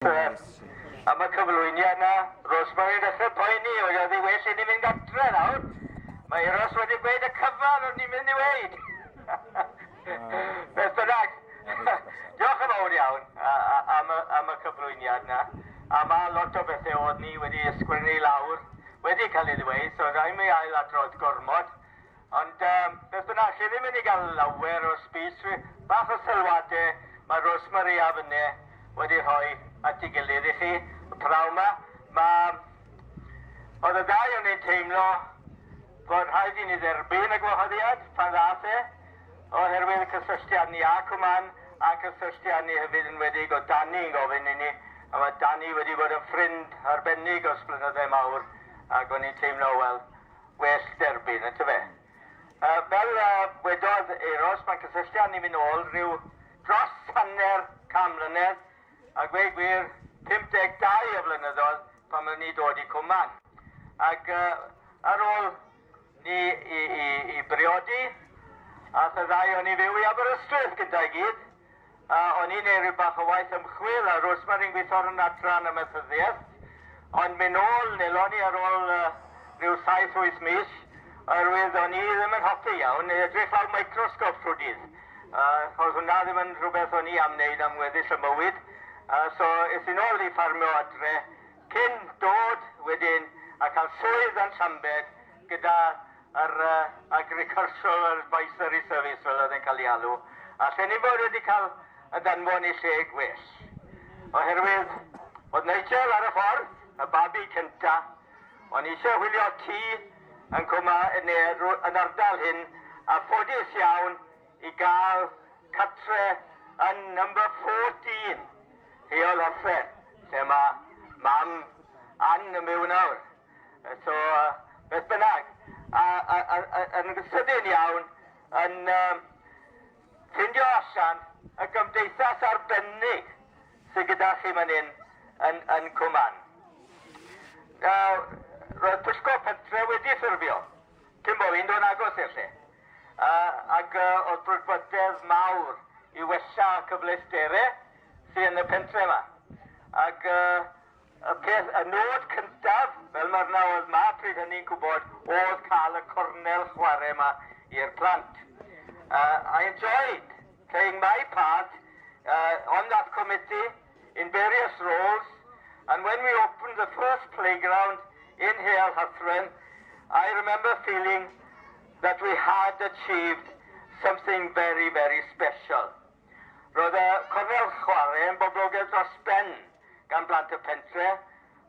Grêt. Am y cyflwyniad yna. Rosemary yn dechrau poeni oedd oedd hi well i ni fynd adre nawr. Mae Euros wedi gweud y cyfan o'n ni'n mynd i weid. Beth bynnag. Diolch yn fawr iawn am y, am y cyflwyniad yna. A mae lot o bethau oedd ni wedi ysgrifennu lawr wedi cael ei ddweud, so rhaid mi ail adrodd gormod. Ond yym, beth bynnag, chi ddim myn' i ga'l lawer o speech fi, bach o sylwade ma' Rosemary a Fynne wedi rhoi at 'i gilydd i chi praw 'ma. Ma'... O'dd y ddau o ni'n teimlo fod rhaid i ni dderbyn y gwahoddiad pan ddath e, oherwydd y cysylltiad ni â Cwman, a'n cysylltiad ni hefyd yn wedig o' Danny yn gofyn i ni, a ma' Danny wedi bod yn ffrind arbennig ers blynydde mawr, ag o'n i'n teimlo, wel, well derbyn, yn tyfe? Uh, fel uh, wedodd Eros, mae'n cysylltu â ni mynd ôl rhyw dros hanner cam mlynedd, a gweud gwir, 52 o flynyddoedd pan oeddwn ni dod i Cwman. Ac uh, ar ôl ni i, i, i briodi, a y ddau o'n i fyw i Aberystwyth gyda'i gyd, A, o'n i'n ei ryw bach o waith ymchwil a Rosemary yn gweithio ar yn adran amaethyddiaeth, ond mi nôl, nelon ni ar ôl uh, rhyw saith wyth mis, oherwydd o'n i ddim yn hoffi iawn neu edrych lawr microsgop trwy dydd. Uh, oedd hwnna ddim yn rhywbeth o'n i am wneud am weddill y mywyd. Uh, so, es i'n ôl i ffarmio adre, cyn dod wedyn a cael swydd yn Llambed gyda yr Agricultural Advisory Service fel oedd e'n cael ei alw, a lle ni fod wedi cael y danfon i lle gwell. Oherwydd oedd Nigel ar y ffordd, y babi cynta, o'n eisiau wylio tŷ yn cwma neu yn ardal hyn, a ffodus iawn i gael cartre yn number 14, Rheol Hofre, lle mae mam Ann yn byw nawr. So, beth bynnag, a, a, a, a, yn sydyn iawn, yn um, ffindio allan y gymdeithas arbennig sydd gyda chi man hyn yn, yn Cwman. Now, roedd pwyllgor pentre wedi ffurfio, cyn bod fi'n dod agos i'r lle. Uh, ac uh, oedd brwdfrydedd mawr i wella cyfleusterau sydd yn y pentre yma. Ac uh, Y peth, y nod cyntaf, fel mae'r na oedd ma pryd hynny'n gwybod, oedd cael y cornel chwarae yma i'r plant. Uh, I enjoyed playing my part uh, on that committee in various roles, and when we opened the first playground in Heol Hathren, I remember feeling that we had achieved something very, very special. Roedd y cornel chwarae yn boblogedd dros ben gan blant y pentre,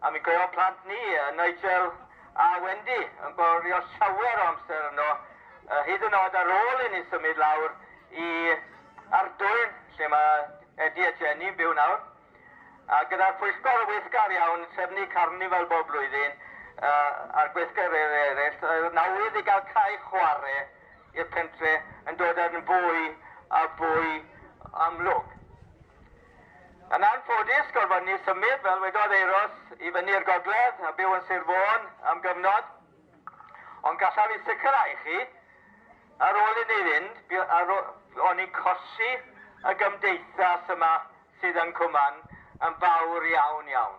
a mi gaeodd plant ni, Nigel a Wendy, yn gwario llawer o amser yno, hyd yn oed ar ôl inni symud lawr i Ardwyn, lle mae Eddie a Jenny yn byw nawr. A gyda'r pwyllgor weithgar iawn, trefnu carnifal bob blwyddyn, a'r gweithgareddau eraill, oedd 'na wydd i gael cae chwarae. i'r pentre yn dod yn fwy a fwy amlwg. Yn anffodus, gorfod ni symud, fel wedodd Euros, i fyny'r gogledd a byw yn Sir Fôn am gyfnod, ond gallaf ei sicrhau chi, ar ôl i ni fynd, o'n i'n colli y gymdeithas yma sydd yn Cwman yn fawr iawn iawn.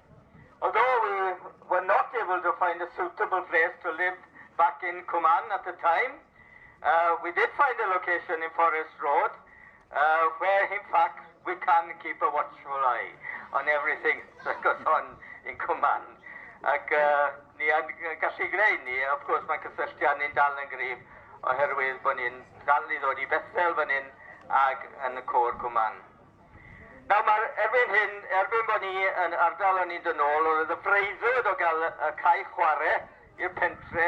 Although we were not able to find a suitable place to live back in Cumann at the time, uh, we did find a location in Forest Road uh, where in fact we can keep a watchful eye on everything that goes on in Cumann. Ac uh, ni yn gallu greu ni, of course mae cysylltiad ni'n dal yn grif oherwydd bod ni'n dal i ddod i Bethel fan hyn ac yn y côr Cumann. Nawr mae'r erbyn hyn, erbyn bod ni yn ardal yn mynd yn ôl, roedd y breuddwyd o gael y cae chwarae i'r pentre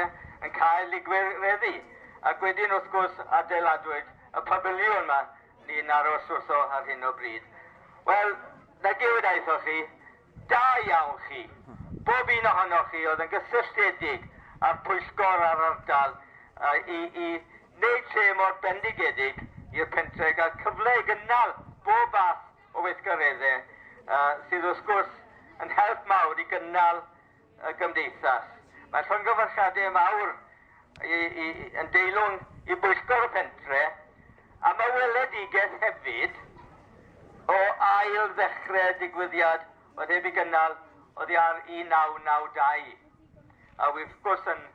yn cael ei gwireddu, ac wedyn wrth gwrs adeiladwyd y pafiliwn mae ni'n aros wrtho ar hyn o bryd. Wel, na diwyd aethoch chi, Da iawn chi. Bob un ohonoch chi oedd yn gysylltiedig â'r pwyllgor a'r ardal i i wneud lle mor bendigedig i'r pentre' i gael cyfle i gynnal bob fath o weithgareddau sydd wrth gwrs yn help mawr i gynnal y Gymdeithas. Mae llongyfarchiadau mawr i, i, yn deilwng i bwyllgor y pentre am y weledigaeth hefyd o ail ddechrau digwyddiad oedd heb ei gynnal oddi ar 1992 a wrth gwrs yn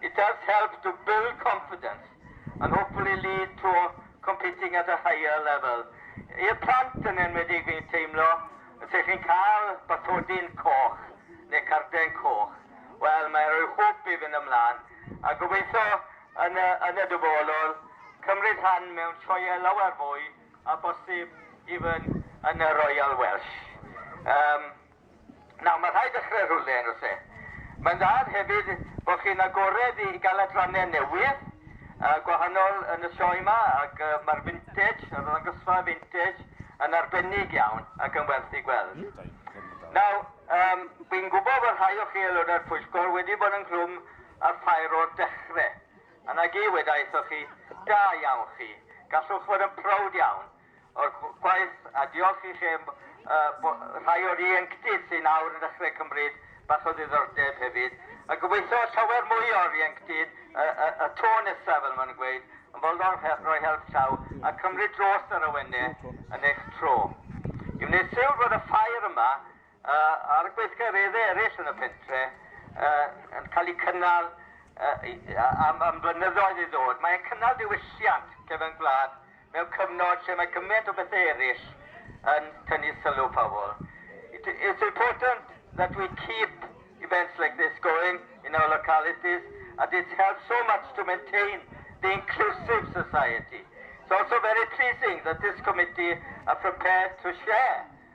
It does help to build confidence and hopefully lead to competing at a higher level. I'r plant yn enwedig fi'n teimlo, os ych chi'n cael bathodyn coch neu carden coch, wel mae'n rhoi hwb i fynd ymlaen a gobeithio yn y, yn y dyfodol cymryd rhan mewn sioeau lawer fwy a bosib even yn y Royal Welsh. Um, Nawr, mae'n rhaid dechrau rhywle, yn does e? Mae'n dda hefyd bod chi'n agored i gael adrannau newydd a gwahanol yn y sioe yma, ac mae'r Vintage, yr arddangosfa Vintage, yn arbennig iawn ac yn werth ei gweld. Nawr, um, fi'n gwybod bod rhai o chi aelodau'r pwyllgor wedi bod yn nghlwm ar ffair o'r dechrau. A na gi, wedaithoch chi, da iawn chi, gallwch fod yn prowd iawn o'r gwaith a diolch i chi am rhai o'r ieuenctid sy'n awr yn dechrau cymryd bach o ddiddordeb hefyd a gobeithio llawer mwy o'r ieuenctid y to nesaf fel maen nhw'n gweud yn fodlon rhoi help llaw a cymryd dros yr awennau yn eich tro. I wneud sylw bod y ffair yma A'r gweithgareddau eraill yn y pentre yn cael eu cynnal am flynyddoedd i ddod. Mae e'n cynnal diwylliant cefn gwlad mewn cyfnod lle mae gymaint o bethau eraill yn tynnu sylw pobl. It's important that we keep events like this going in our localities and it helps so much to maintain the inclusive society. It's also very pleasing that this committee are prepared to share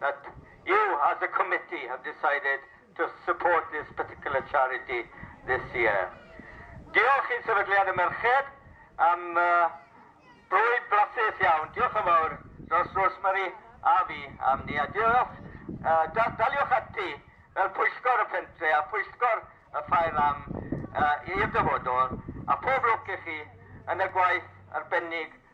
that you as a committee have decided to support this particular charity this year. Diolch i Sefydliad y Merched am bwyd blasus iawn. Diolch yn fawr dros Rosemary a fi am ni. A diolch, daliwch ati fel pwyllgor y pentre a phwyllgor y ffair am i'r dyfodol. A phob lwc i chi yn y gwaith arbennig